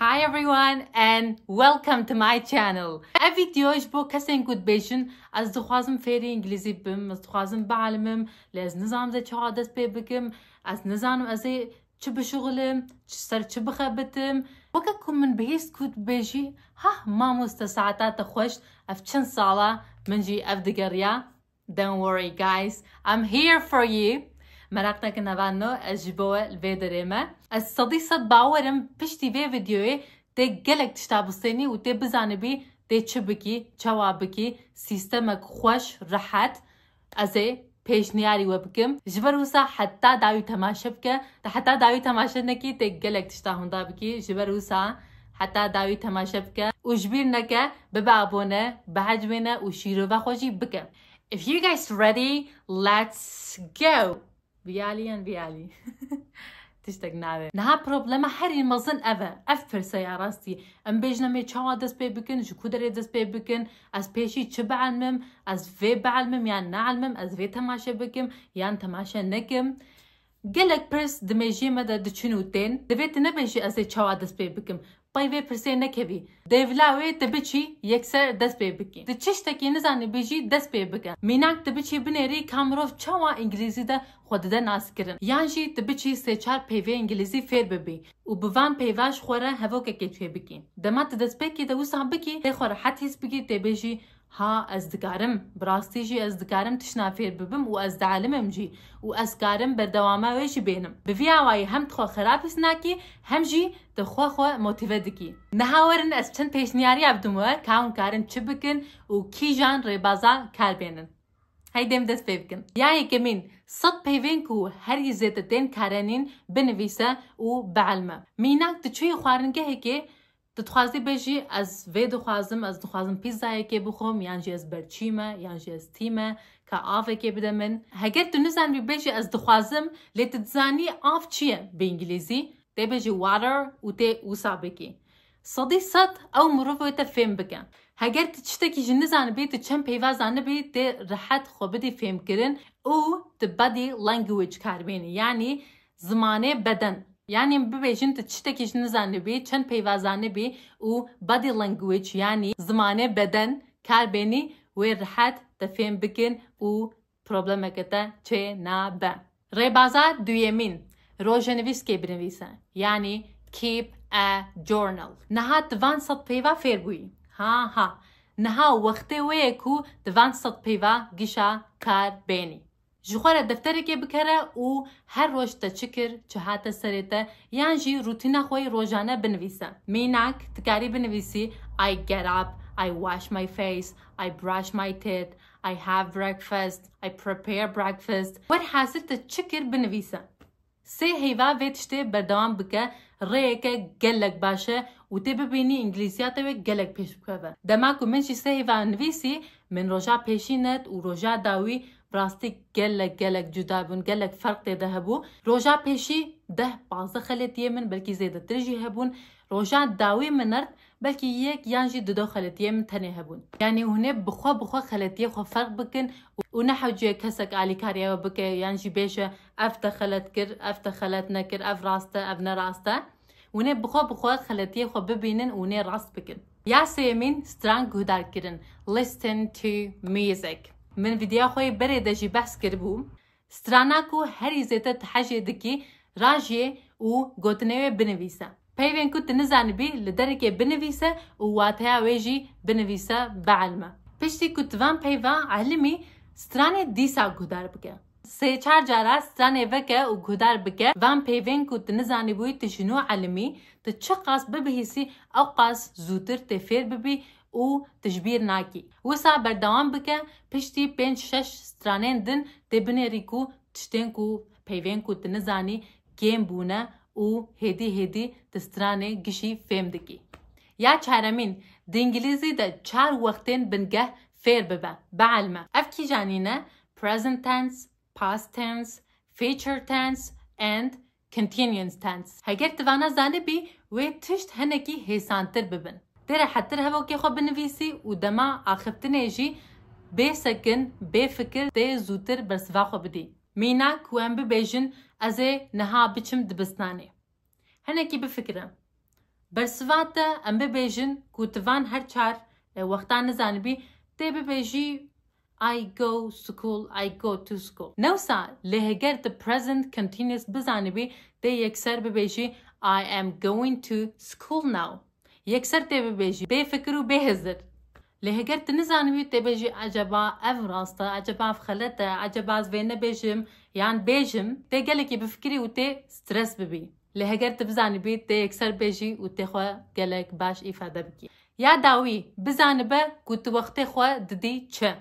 Hi everyone and welcome to my channel. Ev video ji bo kesên ku dibêjin ez dixwazim fêrî îngilîzî bibim, ez dixwazim bialimim, lê ez nizanim zê çawa dest pê bikim, ez nizanim ez ê çi bişuxilim, çi ser çi bixebitim. Weke ku min bihîst ku dibêjî hah mamoste saeta te xweş ev çend sala min jî ev digeriya. Don't worry guys, I'm here for you. Merak nekin nava no ez ji bo we li vê derê me. Ez sedî sed bawer im piştî vê vîdeoyê tê gelek tişta bistênî û tê bizanibî tê çi bikî, çawa bikî, sîstemek xweş, rehet. Ez ê pêşniyarî we bikim. Ji ber wisa heta dawî temaşe bike. Tu heta dawî temaşe nekî tê gelek tişta hûnda bikî. Ji ber wisa Heta dawî temaşe bike û ji bîr neke, bibe abone, bihecwêne û şîrove xwe jî bike. If you guys ready, let's go! Viyalî yan viyalî? Tiştek nabe. Niha problema herî mezin ev e. Ev pirse ya rastî. Em bêjin em ê çawa dest pê bikin, ji ku derê dest pê bikin, ez pêşî çi bielmim, ez vê bielmim yan neelmim, ez vê temaşe bikim yan temaşe nekim. Gelek pirs di mêjiyê me de diçin û tên, divê tu nebêjî ez ê çawa dest pê bikim, qey vê pirsê nekevî, dê vila wê tu biçî yekser dest pê bikî. Tu çi ştekî nizanibî jî dest pê bike. Mînak tu biçî binêrî ka mirov çawa îngilîzî de xwe dide naskirin. Yan jî tu biçî sê çar peyvê îngilîzî fêr bibî û bi van peyva ji xwe re hevokekê tê bikî. Dema tu destpêkî de wisa bikî, tê xwe rehet hîs bikî, tê bêjî Ha ez dikarim, bi rastî jî ez dikarim tiştan fêr bibim û ez dialim im jî û ez karim berdewama wê jî bênim. Bi vî awayî hem tu xwe xerabîs nakî hem jî tu xwe xwe motîve dikî. Niha werin ez çend pêşniyariya bidim we ka hûn karin çi bikin û kîjan rêbaza kar bênin. Hey dê min dest pê bikin. Ya yekemîn, sed peyvên ku herî zêde tên karenîn binivîse û bielme. Mînak tu çûyî xwaringehekê Tu dixwazî bêjî ez vê dixwazim, ez dixwazim pîzzayekê bixwim yan jî ez berçî me yan jî ez tî me ka avekê bide min. Heger tu nizanibî bêjî ez dixwazim lê tu dizanî av çi ye bi îngîlîzî tê bêjî water û tê wisa bikî. Sedî sed ew mirov wê te fêm bike. Heger tu tiştekî jî nizanibî tu çend peyva zanibî tê rihet xwe bidî fêmkirin û tu bedî language kar bênî yanî Zimanê beden, yanî bibêjin tu tiştekî ji nizanibî, çend peyva zanibî û body language yanî zimanê beden kar bênî wê rihet te fêm bikin û problemeke te çê nabe. Rêbaza duyemîn, rojenivîskê binivîse, yanî keep a journal. Niha tu van sed peyva fêr bûyî. Ha ha. Niha wextê wê ye ku tu van sed peyva gişa kar bênî. Ji xwe re defterekê bikere û her roj te çi kir, çi hate serê te yan jî rûtîna xwe yê rojane binivîse. Mînak, tu karî binivîsî I get up, I wash my face, I brush my teeth, I have breakfast, I prepare breakfast. Werhasil te çi kir binivîse. Sê heyva vê tiştê berdewam bike rêyeke gelek baş e û tê bibînî îngilîziya te wê gelek pêş bikeve. Dema ku min jî sê heyva nivîsî min roja pêşî net û roja dawî bi rastî gelek gelek cuda bûn gelek ferq tê de hebû. Roja pêşî deh pazdeh xeletiyê min belkî zêdetir jî hebûn. Roja dawî min ert belkî yek yan jî dudo xeletiyê min tenê hebûn. Yanî hûn ê bi xwe bi xwe xeletiyê xwe ferq bikin û ne hewcî ye kesek alîkarîya we bike yan jî bêje Ev te xelet kir, ev te xelet nekir, ev rast e, ev ne rast e. Hûnê bixwe bixwe xeletiyê xwe bibînin û hûnê rast bikin. Ya sêyemîn strang guhdarkirin, listen to music. Min vîdeoya xwe yê berê de jî behs kiribû. Strana ku herî zêde tihejê dikî rajê û gotinê wê binivîse. Peyvên ku tu nizanibî li derekê binivîse û wateya wê jî binivîse bielme. Piştî ku tu van peyva elmî, stranê dîsa guhdar bike. Sê çar cara stranê veke û guhdar bike van peyvên ku tu nizanîbûyî tu ji nû elimî, tu çiqas bibihîsî ewqas zûtir tê fêr bibî û tu ji bîr nakî. Wisa berdewam bike, piştî pênc şeş stranên din tê binêrî ku tiştên ku peyvên ku tu nizanî kêm bûne û hêdî hêdî tu stranê gişî fêm dikî. Ya çaremîn, di îngîlîzî de çar wextên bingeh fêr bibe, bielme. Ev kîjan îne? present tense, past tense, future tense and continuous tense. Heger tu vana zanibî wê tişt hinekî hêsantir bibin. Tê re hettir hevokê xwe binivîsî û dema axiftinê jî bê sekin, bê fikir tê zûtir bersiva xwe bidî. Mîna ku em bibêjin ez ê niha biçim dibistanê. Hinekî bifikire. Bersiva te em bibêjin ku tu van her çar wextan nizanibî tê bibêjî I go school, I go to school. Newsa lê heger tu present continuous bizanibî dê yekser bibêjî I am going to school now. Yekser tê bibêjî bê fikir û bê hizir. Lê heger tu nizanibî tê bêjî eceba ev rast e, eceba ev xelet e, eceba ez vê nebêjim yan bêjim, tê gelekî bifikirî û tê stres bibî. Lê heger tu bizanibî tê yekser bêjî û tê xwe gelek baş îfade bikî. Ya dawî, bizanibe ku tu wextê xwe didî çi.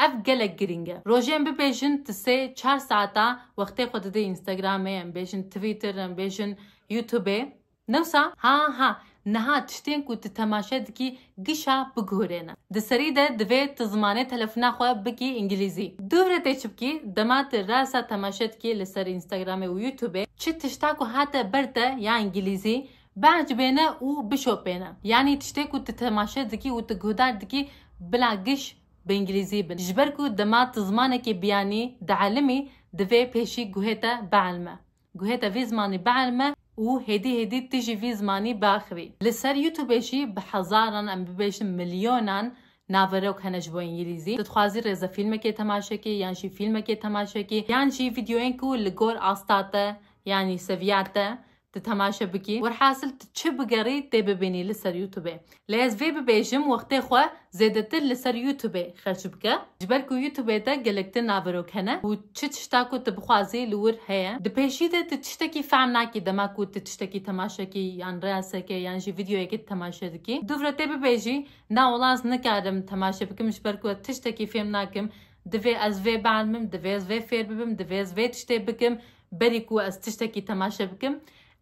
Ev gelek girîng e. Rojên bibêjin tu sê, çar saeta wextê xwe didî Instagramê, em bêjin Twitter, em bêjin Youtubê. Ne wisa? Ha ha, Niha tiştên ku tu temaşe dikî gişa bigihurêne. Di serî de divê tu zimanê telefona xwe bikî îngilîzî. Dûv re tê çi bikî, dema tu rasa temaşe dikî li ser Instagramê û Youtubê, çi tişta ku hate ber te ya îngilîzî, biecibêne û bişopêne. Yanî tiştê ku tu temaşe dikî û tu guhdar dikî bila giş bi îngilîzî bin. Ji ber ku dema tu zimanekê biyanî, dielimî, divê pêşî guhê te bielme. Guhêta vî zimanî bielme û hêdî hêdî tu jî vî zimanî biaxivî. Li ser Youtubê jî bi hezaran em bibêjin milyonan naverok hene ji bo îngîlîzî. Tu dixwazî rêzefîlmekê temaşe kî yan jî fîlmekê temaşe kî yan jî vîdeoyên ku li gor asta te yanî seviya te tu temaşe bikî. Werhasil tu çi bigerî tê bibînî li ser Youtubê. Lê ez vê bibêjim wextê xwe zêdetir li ser Youtubê xerç bike. Ji ber ku Youtubê de gelek din naverok hene û çi tişta ku tu bixwazî li wir heye. Di pêşî de tu tiştekî fehm nakî dema ku tu tiştekî temaşe kî yan reelseke yan jî vîdyoyekê temaşe dikî. Du vire tê bibêjî na welaz nikarim temaşe bikim ji ber ku ez tiştekî fêm nakim. Divê ez vê bielmim, divê ez vê fêr bibim, divê ez vê tiştê bikim berî ku ez tiştekî temaşe bikim.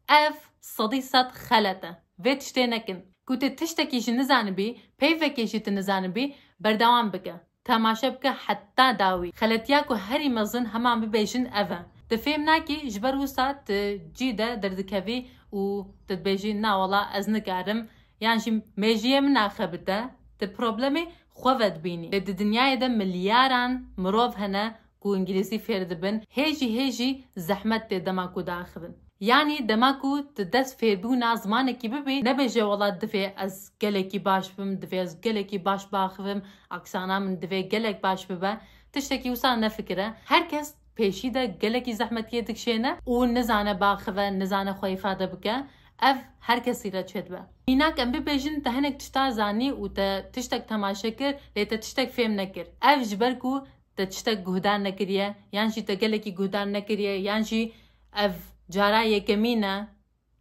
Ev sedî sed xelet e. Vê tiştê nekin. Ku tu tiştekî ji nizanibî, peyvekê jî tu nizanibî, berdewam bike. Temaşe bike heta dawî. Xeletiya ku herî mezin heman bibêjin ev e. Tu fêm nakî ji ber wisa tu cî de derdikevî û tu dibêjî na wala ez nikarim yan jî mêjiyê min axebite. Tu problemê xwe vedibînî. Lê di dinyayê de milyaran mirov hene ku îngîlîzî fêr dibin hê jî hê jî zehmet tê dema ku diaxivin. Yanî dema ku di dest fêrbûna zimanekî bibî nebêje wela divê ez gelekî baş bim, divê ez gelekî baş biaxivim, aksana min divê gelek baş bibe, tiştekî wisa nefikire. Her kes pêşî de gelekî zehmetiyê dikşêne û nizane biaxive, nizane xwe îfade bike. Ev her kesî re çêdibe. Mînak em bibêjin te hinek tişta zanî û te tiştek temaşe kir lê te tiştek fêm nekir. Ev ji ber ku te tiştek guhdar nekiriye yan jî te gelekî guhdar nekiriye yan jî ev cara yekemîn e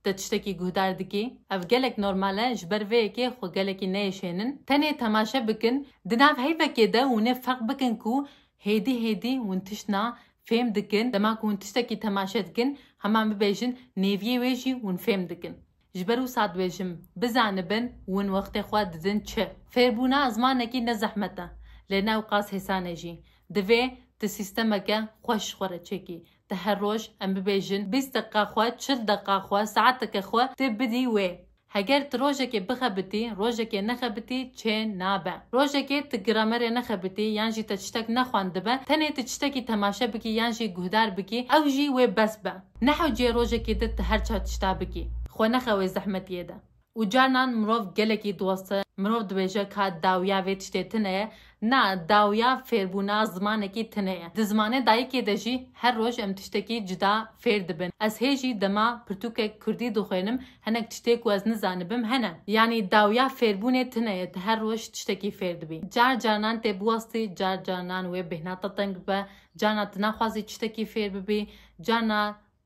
te tiştekî guhdar dikî. Ev gelek normal e ji ber vê yekê xwe gelekî neyêşênin. Tenê temaşe bikin di nav heyvekê de hûn ê ferq bikin ku hêdî hêdî hûn tiştna fêm dikin dema ku hûn tiştekî temaşe dikin heman bibêjin nêviyê wê jî hûn fêm dikin. Ji ber wisa dibêjim, bizanibin win wextê xwe didin çi. Fêrbûna zmanekî ne zehmet e, lê ne ew qas hêsan e jî. Divê tu sîstemeke xweş ji xwe re çêkî. Tu her roj, em bibêjin bîst deqiqa xwe, çil deqiqa xwe, saeteke xwe tu bidî wê. Heger tu rojekê bixebitî, rojekê nexebitî çê nabe. Rojekê tu gramerê nexebitî yan jî te tiştek nexwendibe, tenê tu tiştekî temaşe bikî yan jî guhdar bikî, ew jî wê bes be. Nehewcîye rojekê din tu her çar tişta bikî, xwe nexewê zehmetiyê de. Û carnan mirov gelekî dost e, mirov dibêje ka dawiya vê tiştê tune ye, na, dawiya fêrbûna zimanekî tune ye. Di zimanê dayikê de jî her roj em tiştekî cuda fêr dibin. Ez hê jî dema pirtûkek kurdî dixwênim, hinek tiştê ku ez nizanibim hene. Yanî dawiya fêrbûnê tune ye, tu her roj tiştekî fêr dibî. Car carnan tê biwestî, car carnan wê bêhna te teng bibe, Carna tu naxwazî tiştekî fêr bibî, carna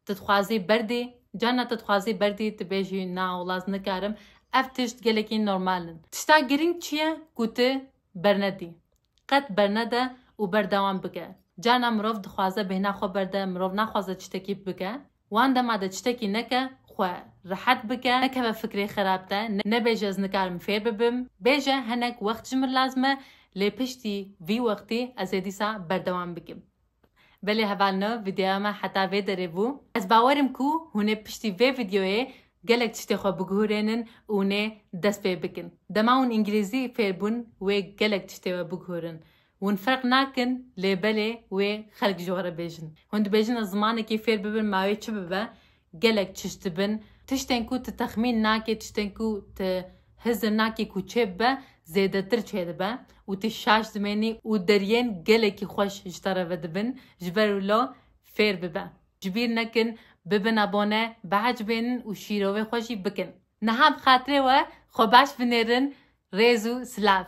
tu dixwazî berdî, carna tu dixwazî berdî tu bêjî na wlas nikarim. Ev tişt gelekî normal in. Tişta girîng çi ye ku tu bernedî. Qet bernede û berdewam bike. Carna mirov dixwaze bêhna xwe berde, mirov naxwaze tiştekî bike. Wan dema de çitekî neke xwe rehet bike, nekeve fikrê xerab te, nebêje ez nikarim fêr bibim, bêje hinek wext ji min lazim e, lê piştî vî wextî ez ê dîsa berdewam bikim. Belê heval no vîdeoya me heta vê derê bû. Ez bawerim ku hûn ê piştî vê vîdeoyê gelek tiştê xwe biguhurênin û hûn ê dest pê bikin. Dema hûn îngilîzî fêr bûn wê gelek tiştê we biguhurin. Hûn ferq nakin lê belê wê xelk ji we re bêjin. Hûn dibêjin ez zimanekê fêr bibim ma wê çi bibe, gelek çişt dibin. Tiştên ku tu texmîn nakî, tiştên ku tu hizir nakî ku çê bibe zêdetir çê dibe û tu şaş dimênî û deriyên gelekî xweş ji te re vedibin. Ji ber wilo fêr bibe. Ji bîr nekin bibin abone, biecbênin û şîrovê xwe jî bikin. Niha bi xatirê we xwe baş binêrin. Rêz û silav.